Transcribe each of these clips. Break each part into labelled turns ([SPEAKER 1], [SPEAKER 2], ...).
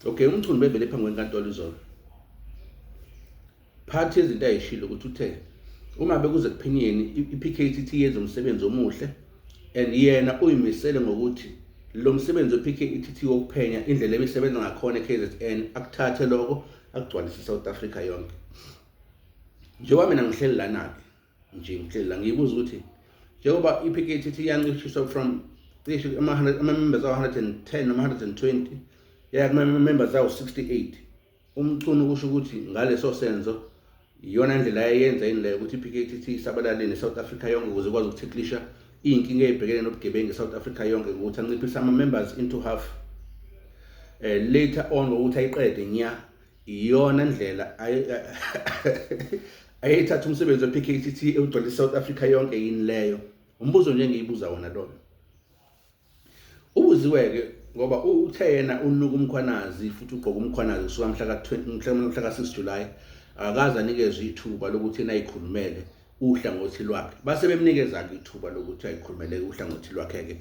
[SPEAKER 1] Okay, uMchunu bevele phambi kwenkantolo izolo. Phathi izinto ayishilo ukuthi uthe uma bekuze kuphinyeni iPKTT yenza umsebenzi omuhle and yena uyimisele ngokuthi lo msebenzi wePKTT wokuphenya indlela ebisebenza ngakhona eKZN akuthathe lokho akugcwalise iSouth Africa yonke. Njengoba mina ngihleli lana-ke nje ngihleli la ngiyibuza ukuthi njengoba i-PKT ithi yancishiswa from cishe ama-members awu-110 noma 120 yaya kuma-members awu-68 umchunu kusho ukuthi ngaleso senzo iyona ndlela yayenza yini leyo ukuthi i-PKT ithi isabalale ne-south africa yonke ukuze ikwazi ukuthiklisha iy'nkinga ey'bhekene nobugebengu e-south africa yonke ukuthi anciphise ama-members into half um later on ngokuthi ayiqede nya iyona ndlela ayeyithatha umsebenzi we-PKTT ewugcwele i-South Africa yonke yini leyo umbuzo nje engiyibuza wona loyo ubuziwe-ke ngoba uthe yena unuka umkhwanazi futhi ugqoka umkhwanazi kusuka mhla ka-6 July akaze anikezwe ithuba lokuthi yena ayikhulumele uhlangothi lwakhe base bemnikeza-ke ithuba lokuthi ayikhulumele uhlangothi lwakhe-ke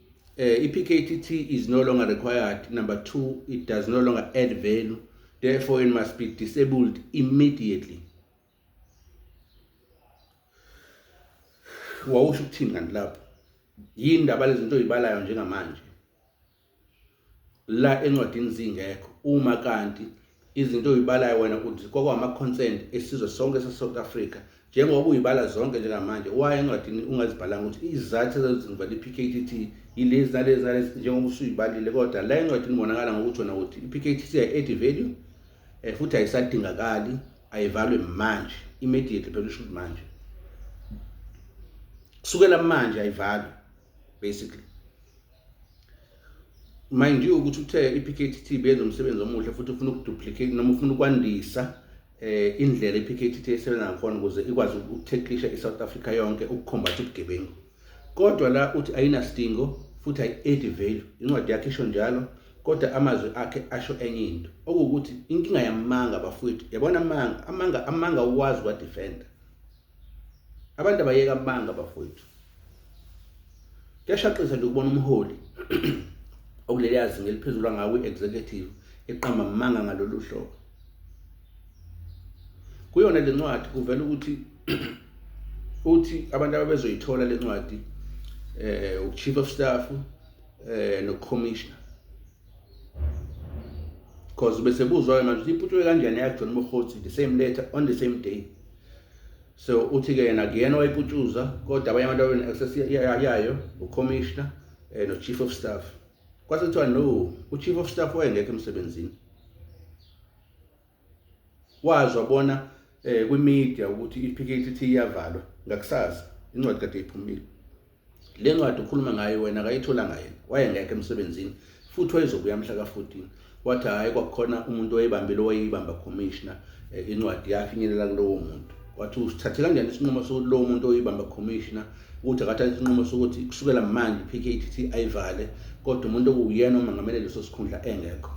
[SPEAKER 1] uh, i-PKTT is no longer required. Number two, it does no longer add value. Therefore, it must be disabled immediately. wawusho ukuthini kanti lapho yini ndaba lezinto oyibalayo njengamanje la encwadini zingekho uma kanti izinto oyibalayo wena uthi kwakwama-concern esizwe sonke sase-south africa njengoba uyibala zonke njengamanje waye encwadini ungazibhalanga ukuthi izizathu ezenzivala i-p k t t yilezi nalezi nalezi njengoba usuyibalile kodwa la encwadini ubonakala ngokuthi wona ukuthi i-p k t t ayi-edi value um futhi ayisadingakali ayivalwe manje immediately phela usho ukuthi manje kusukela manje ayivalwe basically mind you ukuthi uthe i-PKTT benza umsebenzi omuhle futhi ufuna ukuduplicate noma ufuna ukwandisa eh indlela i-PKTT esebenza ngakhona ukuze ikwazi ukutheqisha i-South Africa yonke ukukhombatha ubugebengu kodwa la uthi ayinasidingo futhi ayi-add value incwadi yakhe isho njalo kodwa amazwi akhe asho enye into okuwukuthi inkinga yamanga bafowethu yabona amanga amanga amanga uwazi wadefenda abantu abayeka amanga bafowethu kuyashaqisa nje ukubona umholi okuleli yazi ngeliphezulu angawo i-executive eqamba amanga ngalolu hlobo kuyona le ncwadi kuvela ukuthi uthi abantu ababezoyithola le ncwadi eh uchief of staff eh no commissioner cause bese buzwa-ke manje ukuthi iphutshwe kanjani yakujona umrhoti the same letter on the same day so uthi-ke yena kuyena owayiputshuza kodwa abanye abantu abene-access yayo ucommissioner um eh, no-chief of staff kwase kuthiwa no u-chief of staff wayengekho emsebenzini wazwa bona eh kwimedia ukuthi iPKTT iyavalwa ngakusasa incwadi kade iphumile le ncwadi ukhuluma ngayo wena akayithola ngayo wayengekho emsebenzini futhi wayezobuya mhla ka-14 wathi hhayi kwakukhona umuntu owayebambile owayeyibamba commissioner eh, incwadi yafinyelela kulowo muntu wathi usithathe kanjani isinqumo sokuthi lowo muntu oyibamba commissioner ukuthi akathathe isinqumo sokuthi kusukela manje i-pktt ayivale kodwa umuntu okuwuyena omangamele leso sikhundla engekho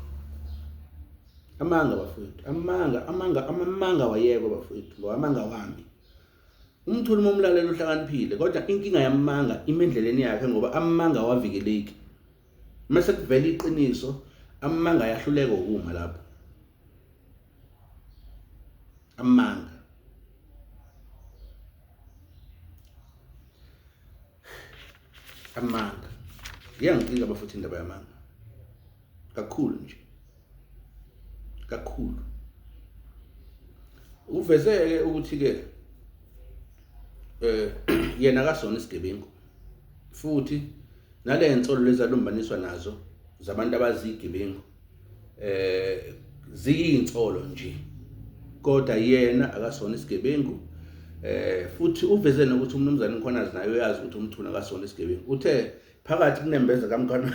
[SPEAKER 1] amanga bafowethu amanga amanga amanga wayeko bafowethu ngoba amanga wami umuntu uma umlalela uhlakaniphile kodwa inkinga yamanga imendleleni yakhe ngoba amanga wavikeleki mase kuvela iqiniso amanga yahluleka ukuma lapho amanga amanga ngiyangicika abafuthi indaba yamanga kakhulu nje kakhulu uvezeke ukuthi ke eh yena kasona isigebengu futhi nale nsolo lezalumbaniswa nazo zabantu abazigebengu eh ziyinsolo nje kodwa yena akasona isigebengu eh futhi uveze nokuthi umnumzane uMkhwanazi naye uyazi ukuthi umthuna akasona isigebengu uthe phakathi kunembeza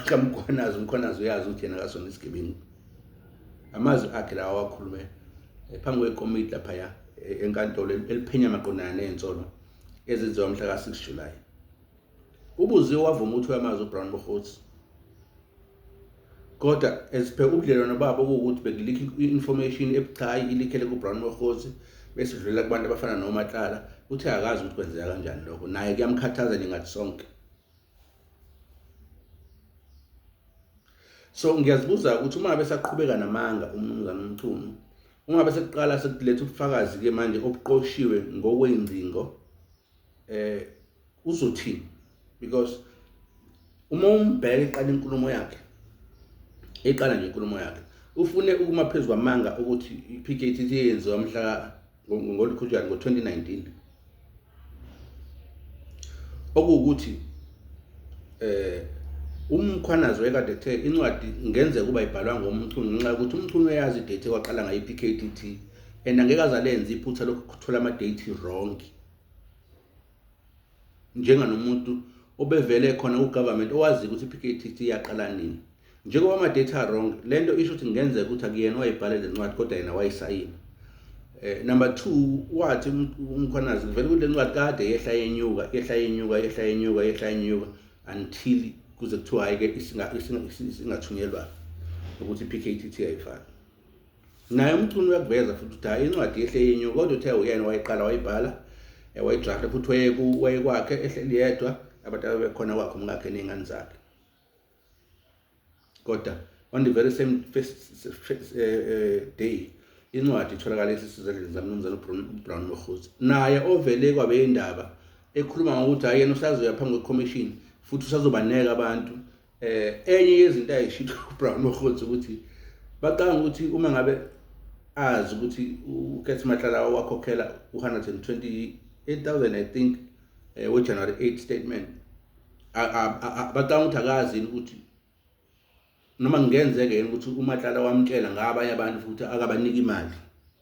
[SPEAKER 1] kamkhwanazi umkhwanazi uyazi ukuthi yena akasona isigebengu amazwi akhe lawa awakhulume eh, phambi kwekomiti laphaya eh, enkantolo eliphenya maqondana ney'nsolo ezenziwa mhla ka-6 julayi ubuziwe wavuma ukuthi uyamazi ubrown bohots Kodwa as per ubudlelwano babo kuwukuthi bengilike i-information ebucayi ilikhele kuBrown Mokgosi bese idlulela kubantu abafana noMatlala uthe akazi ukuthi kwenzeka kanjani lokho naye kuyamkhathaza ningathi sonke so ngiyazibuza ukuthi uma besaqhubeka namanga umnumzane umchunu uma besekuqala sekuletha ubufakazi ke manje obuqoshiwe ngokwengcingo eh uzothini because uma umbheka iqala inkulumo yakhe eqala nje inkulumo yakhe ufune ukuma phezu kwamanga ukuthi i-PKT yenziwa mhla ngolikhutshana ngo-2019 okuwukuthi eh umkhwanazi wekade ethe incwadi ngenze kuba ibhalwa ngomchunu ngenxa yokuthi umchunu uyazi idate kwaqala ngayo i-PKTT and angeke azalenza iphutha lokuthola ama-date wrong njenganomuntu obevele khona kugovernment owaziyo ukuthi i-PKTT yaqala nini njengoba ama-data wrong le nto isho ukuthi kungenzeka ukuthi akuyena owayibhale le ncwadi kodwa yena wayisayina Eh, number two wathi um, umkhwanazi kuvele kule ncwadi kade yehla yenyuka yehla yenyuka yehla yenyuka yehla yenyuka until kuze kuthiwa hhayi-ke isingathunyelwa ukuthi i-p k t t ayifani naye umchunu uyakuveza futhi ukuthi hayi incwadi yehle yenyu kodwa uthe uyena wayiqala wayibhala eh, wayidrafta futhi wayekwakhe ehleli yedwa abantu abebekhona kwakhe umkakhe ney'ngane zakhe kodwa on the very same first, first, uh, uh, day incwadi itholakala esisizandleni zamnumzane ubrown mohuzi naye ovele kwabe indaba ekhuluma ngokuthi hayi yena usazoya phambi kwekhomishini futhi usazobaneka abantu eh enye yezinto ayishilo uBrown Mokgotsi ukuthi bacanga ukuthi uma ngabe azi ukuthi uKethi Matlala wakhokhela u128,000 I think eh we January 8 statement bacanga ukuthi akazi ukuthi noma kungenzeke yini ukuthi uMatlala wamtshela ngabanye abantu futhi akabaniki imali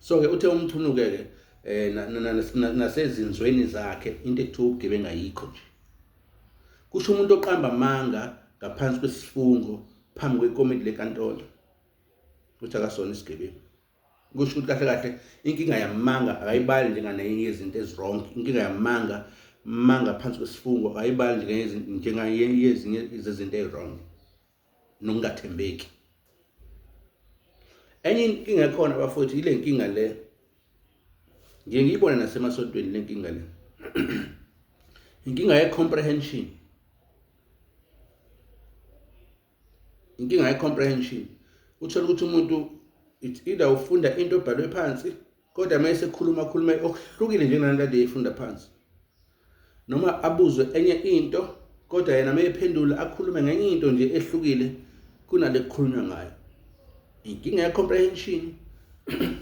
[SPEAKER 1] so ke uthe umthunuke ke eh nasezinzweni zakhe into ekuthiwa ubugebengu ayikho nje kusho umuntu oqamba amanga ngaphansi kwesifungo phambi kwekomiti lenkantolo ukuthi akasona isigebengu kusho ukuthi kahle kahle inkinga yamanga akayibali njenganenye yezinto ezirongi inkinga yamanga manga phansi kwesifungo akayibali njengezinye zezinto ezirongi nokungathembeki enye inkinga ekhona bafowethu yile nkinga le ngiye ngiyibone nasemasontweni le nkinga le inkinga ye-comprehension inkinga ye-comprehension uthole ukuthi umuntu it's either ufunda into obhalwe phansi kodwa uma esekhuluma khuluma okuhlukile njengenani kade eyifunda phansi noma abuzwe enye into kodwa yena uma ephendula akhulume ngenye into nje ehlukile kunale kukhulunywa ngayo inkinga ye-comprehension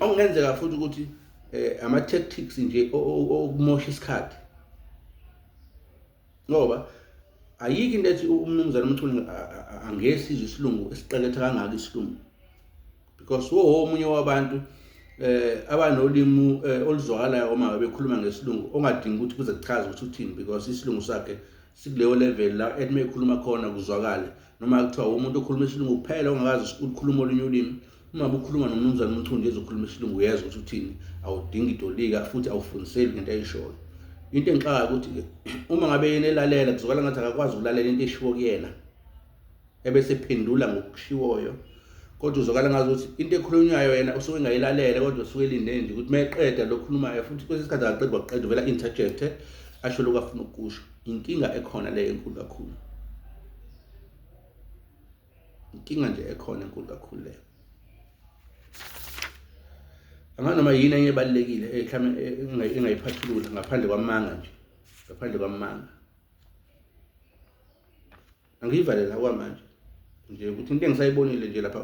[SPEAKER 1] okungenzeka futhi ukuthi eh, ama-tactics nje okumosha isikhathi ngoba ayikho into ethi umnumzane umchuni angesizwe isilungu esiqeketha kangaka isilungu because wo omunye wabantu eh abanolimu eh, oluzwakalayo uma bekhuluma ngesilungu ongadingi ukuthi kuze kuchaze ukuthi uthini because isilungu sakhe sikuleyo level la ethi mekhuluma khona kuzwakale noma kuthiwa umuntu okhuluma isilungu kuphela ongakazi ukukhuluma olunye ulimi uma bukhuluma nomnumzane umchundi ezokhuluma isilungu uyezwa ukuthi uthini awudingi idolika futhi awufundiseli ngento ayishoyo into engixaka ukuthi uma ngabe yena elalela kuzwakala ngathi akakwazi ukulalela into eshiwo kuyena ebese phendula ngokushiwoyo kodwa uzokala ngazi ukuthi into ekhulunywayo yena usuke engayilalele kodwa usuke elinde nje ukuthi uma eqeda lokhulumayo futhi kwesinye isikhathi akaqedi waqeda uvela interjecte asho lokhu afuna ukusho inkinga ekhona leyo enkulu kakhulu inkinga nje ekhona enkulu kakhulu leyo anganoma yini enye ebalulekile mhlawumbe eh, engayiphathulula ngaphandle kwamanga nje ngaphandle kwamanga angiyivalela kwamanje nje ukuthi into engisayibonile nje lapha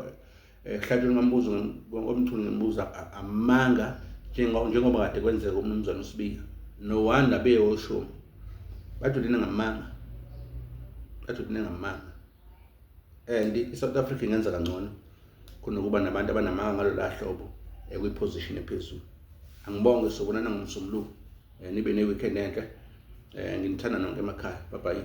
[SPEAKER 1] ehlatshweni kwambuzo omthuni ngibuza amanga njengoba kade kwenzeka umnumzane usibika no wanda beyoshumi badudine ngamanga badudine ngamanga and i-south africa ingenza kangcono kunokuba nabantu abanamanga ngalo la hlobo ekwiposition ephezulu angibonge sobonana ngomsombuluko eh, nibe ne-weekend enhle um nginithanda nonke emakhaya babayi